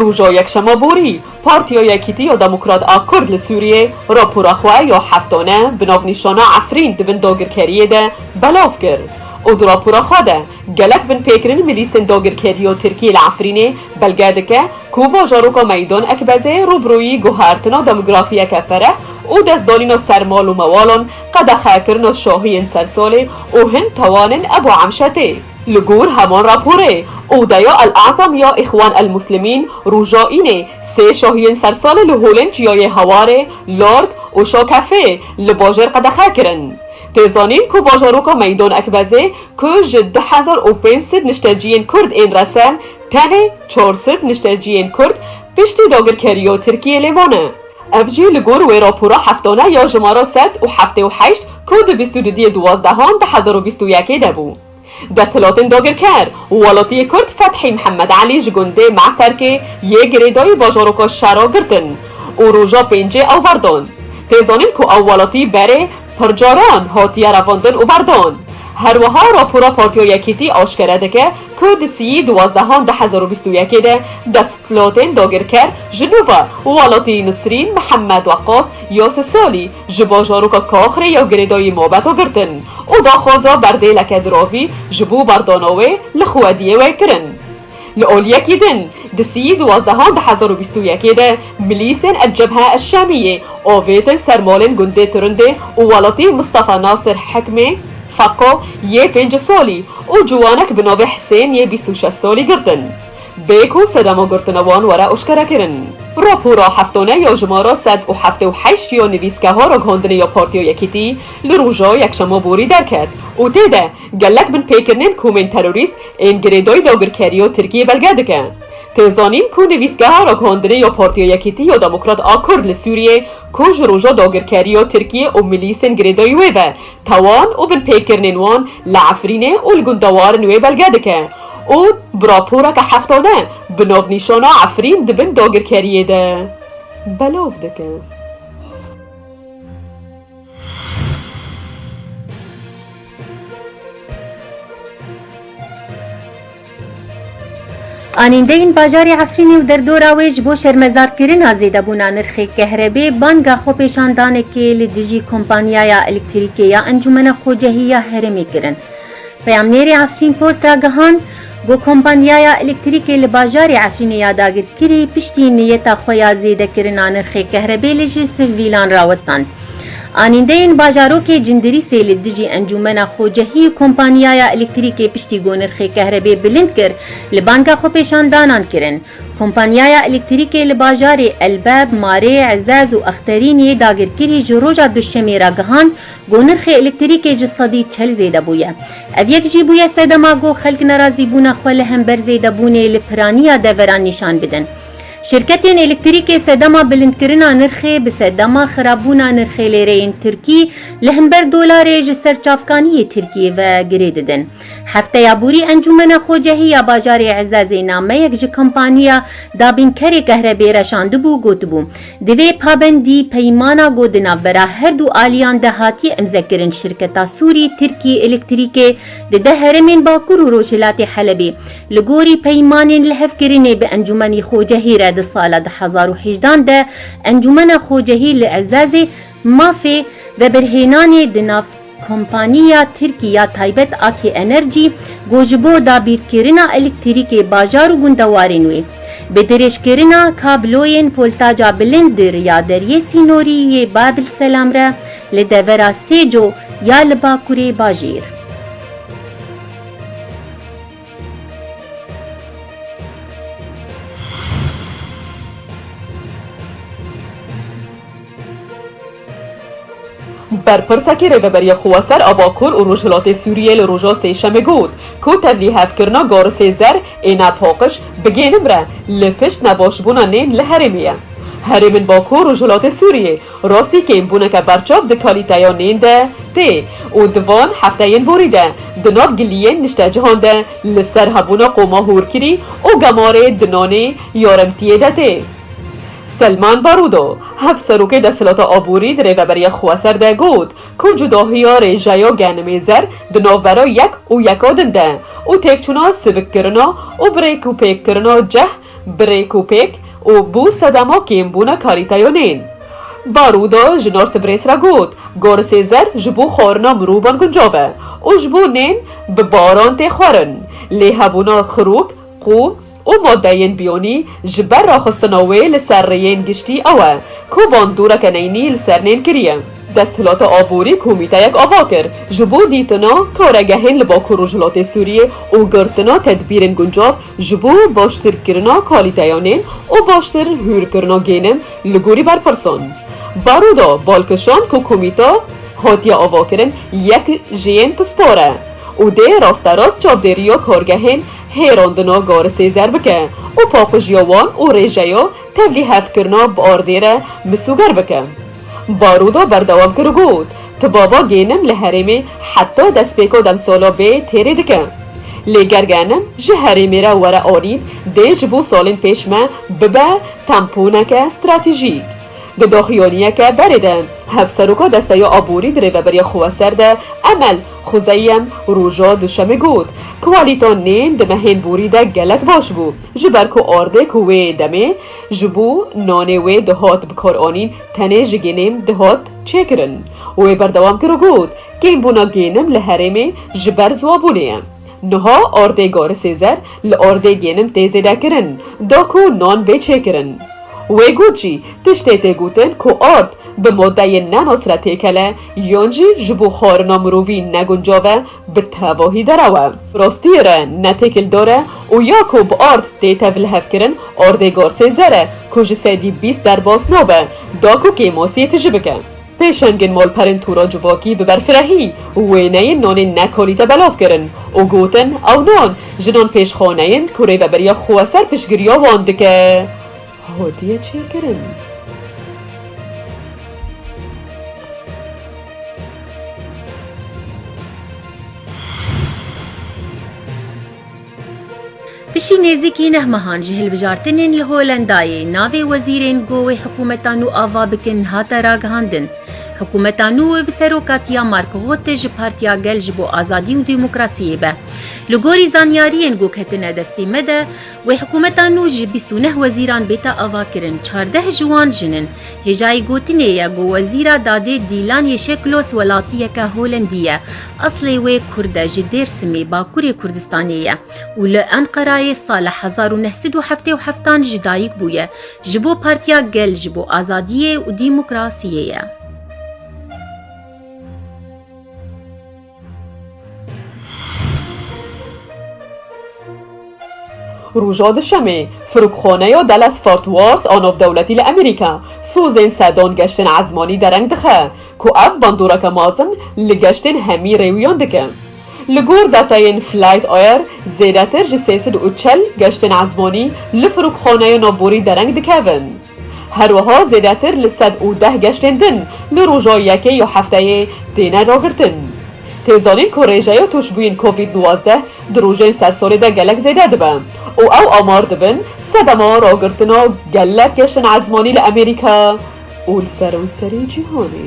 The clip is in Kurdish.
Roja Yekşema borî, Partiya Yekîtî ya Demokrat a Kurd li Sûriyê rapora xwe ya heftane bi navnîşana Efrîn di bin dagirkeriyê de belav kir û di rapora xwe de gelek binpêkirin milîsên dagirkerî ya Tirkiyê li Efrînê belge dike ku bajaroka Meydan Ekbezê rûbirûyî guhertina demografiyeke fereh û destdanîna ser mal û mewalan, qedexekirina şahiyên sersalê û hin tawanên Ebû Emşetê. Li gor heman raporê, Odeya El-Azam ya Îxwan El-Muslimîn roja Înê sê şahiyên sersalê li holên çiyayê Hawarê, Lord û Şakefê li bajêr qedexe kirin. Tê zanîn ku bajaroka Meydan Ekbezê ku ji du hezar û pênc sed nişteciyên Kurd ên rese, tenê çar sed nişteciyên Kurd piştî dagirkeriya Tirkiyê lê mane. Ev jî li gor wê rapora heftane ya jimara sed û heftê û heşt ku di bîst û du diyê duwazdehan du hezar û bîst û yekê de bû. Desthilatên dagirker û welatiyê Kurd Fethî Mihemed Elî ji gundê Meserkê yê girêdayî bajaroka şera girtin û roja pêncê ew berdan. Tê zanîn ku ew welatî berê pircaran hatiye revandin û berdan. Herwiha rapora Partiya Yekîtî aşkere dike ku di siyî duwazdehan du hezar û bîst û yekê de desthilatên dagirker ji nû ve welatî Nisrîn Mihemed Weqas ya sê salî ji bajaroka Kaxrê ya girêdayî mabeta girtin û daxwaza berdêleke diravî ji bo berdana wê li Xwediyê wê kirin. Li olyekî din di sî û duwazdehan di hezar û bîst û yekê de milîsên El Cebhe El Şamiyê avêtin ser malên gundê Turundê û welatî Mistafa Nasir Hekmê, Fako, yê pênc salî û ciwanek bi navê Hisên yê bîst û şeş salî girtin. Bê ku sedema girtina wan were eşkerekirin. Rapora heftane ya jimara sed û heftê û heşt ya nivîsgeha ragihandinê ya Partiya Yekîtî li roja Yekşema borî derket û tê de Gelek binpêkirinên komên terorîst ên girêdayî dagirkerî û tirkîyê belge dike. Tê zanîn ku nivîsgeha ragihandinê ya Partiya Yekîtî ya Demokrat a Kurd li Sûriyê ku ji roja dagirkerî ya tirkîyê û milîsên girêdayî wê ve tawan û binpêkirinên wan li Efrînê û li gundewarin wê belge dike û bi raporeke heftane bi navnîşana Efrîn di bin dagirkerîyê de belav dike. Anîndeyên bajarê Efrînê û derdora wê ji bo şermezarkirina zêdebûna nirxê kehrebê banga xwepêşandanekê li dijî Kompanyaya Elektrîkê ya Encûmena Xwecehî ya Herêmê kirin. Peyamnêrê Efrîn Post ragihand, Ku kompanyaya elektrîkê li bajarê Efrînê ya dagirkirî piştî niyeta xwe ya zêdekirina nirxê kehrebê li ji sivîlan rawestand. Anîndeyên bajarokê Cindirîsê li dijî encûmena xwecehî û kompanyaya elektrîkê piştî ku nirxê kehrebê bilind kir li banga xwepêşandanan kirin. Kompanyaya elektrîkê li bajarê Elbeb, Marê, Ezez û Exterîniyê dagirkirî ji roja duşemê re gihand Ku nirxê elektrîkê ji sedî çel zêde bûye. Ev yek jî bûye sedema ku xelk nerazîbûna xwe li hember zêdebûnê li piraniya deveran nîşan bidin. Şirketên elektrîkê sedema bilindkirina nirxê bi sedema xirabûna nirxê lêreyên tirkî li hember dolarê ji ser çavkaniyê tirkî ve girê didin. Hefteya borî Encûmena Xocehî ya Bajarê Ezezê nameyek ji kompaniya dabînkerê kehrebê reşandibû û gotibû, Divê pabendî peymana ku di navbera her du aliyan de hatiye imzekirin şirketa Sûrî Tirkî Elektrîkê di deh heremên Bakur û Rojhilatê Helebê li gorî peymanên lihevkirinê bi Encûmenî Xocehî re di sala du hezar û hejdan de Encûmena Xocehî li Ezazê mafê vebirhênanê di nav Kompaniya Tirkî ya taybet Akê Enerjî got ji bo dabîrkirina elektrîkê bajar û gundewarên wê, bi dirêjkirina kabloyên voltaca bilind di riya Deriyê Sînorî yê Babil Selam re li devera Sêco ya li bakurê bajêr. Berpirsekî Rêveberiya Xweser a Bakur û Rojhilatê Sûriyê li roja Sêşemê got ku tevlîhevkirina garisê zer ê ne paqij bigênim re li pişt nebaşbûna nên li herêmê ye. Herêmên Bakur Rojhilatê Sûriyê rastî kêmbûneke berçav di kalîteya nên de tê û di van hefteyên borî de di nav giliyên niştecihan de li ser hebûna qoma hûrkirî û gemarê di nanê yaremtiyê de tê. Selman Barudo, Hevserokê Desthilata Aborî di rêveberiya xweser de got ku cudahiya rêjeya genimêzer di navbera yek û yeka din de û têkçûna sivikkirina û birêkûpêkkirina ceh bi rêkûpêk û bû sedema kêmbûna kalîteya nên Barudo ji Northbrês re got, Gorisêzer ji bo xwarina mirovan guncav e û ji bo nên bi baran tê xwarin lê hebûna xirûk, qûm, û madeyên biyonî ji ber raxistina wê li ser rêyên giştî ew e ku bandoreke neynî li ser nên kiriye. Desthilata Aborî komîteyek ava kir ji bo dîtina karegehên li Bakur Rojhilatê Sûriyê û girtina tedbîrên guncav ji bo baştirkirina kalîteya nên û baştir hûrkirina gênim li gorî berpirsan. Baroda balkişand ku komîte hatiye avakirin yek ji yên pispar e û dê rasterast çavdêriya kargehên hêrandina garisê zer bike û paqijîya wan û rêjeya tevlî hevkirina bi ardê re misûger bike. Baroda berdewam kir û got, Tibaba gênim li herêmê heta destpêka demsala bê têrê dike. Lê ger genim ji herêmê re were alîn dê ji bo salên pêş me bibe temponeke stratejîk. Di doxuyoniyeke berê de Hevseroka Desteya Aborî di rêveberiya xwe ya ser de Emel Xuzeyem roja Duşemê got, Kwalîta nên di mehên borî de gelek baş bû, ji ber ku ardê ku wê demê ji bo nanê wê dihat bikaranîn tenê ji gênêm dihat çêkirin. Wê berdewam kir û got, Kêmbûna gênim li herêmê ji ber ziwabûnê ye. Niha ardê Garisêzer li ardê gênim tê zêdekirin, da ku nan bê çêkirin. Wê got jî, tiştê tê gotin ku ard bi madeyên ne nas re têkele, yan jî ji bo xwarina mirovî neguncav e, bi tevahî derew e. Rastiyê re ne têkildar e û ya ku bi ard tê tevlihevkirin ardê Garsêzer e ku ji sedî bîst derbas nabe, da ku kêmasiyê tije bike. Pêşengên malperên Tûra Civakî bi berfirehî wêneyên nanên nekolî te belav kirin û gotin ew nan jinan pêşxane yên ku Rêveberiya Xweser piştgiriya wan dike, hatiye çêkirin. Piştî nêzîkî neh mehan ji hilbijartinên li Holendayê navê wezîrên ku wê hikûmeta nû ava bikin hate ragihandin. Hikûmeta nû wê bi serokatiya Mark Rutte ji Partiya Gel ji bo Azadî û Demokrasiyê be. Li gorî zanyariyên ku ketine destê me de, wê hikûmeta nû ji bîst û neh wezîran bêta avakirin, çardeh ji wan jin in. Hêjayî gotinê ye ku Wezîra Dadê Dîlan Yêşeklos welatiyeke Holendî ye. Eslê wê Kurd e, ji Dêrsimê, Bakurê Kurdistanê ye û li Enqerayê sala hezar û neh sed û heftê û heft an ji dayik bûye. Ji bo Partiya Gel ji bo Azadiyê û Dîmokrasiyê ye. Roja Duşemê, Firokxaneya Dallas Fort Worth a navdewletî li Amerîka, sozên sedan geştên ezmanî dereng dixe ku ev bandoreke mezin li geştên hemî rêwiyan dike. Li gor datayên Flight Air, zêdetir ji sê sed û çel geştên ezmanî li firokxaneya navborî dereng dikevin. Her wiha zêdetir li sed û deh geştên din li roja yekê ya hefteyê têne ragirtin. Tê zanîn ku rêjeya tûşbûyên covid newzdeh di rojên sersorê de gelek zêde dibe û ew amar dibin sedema ragirtina gelek geştên ezmanî li Amerîka û li seranserê cîhanê.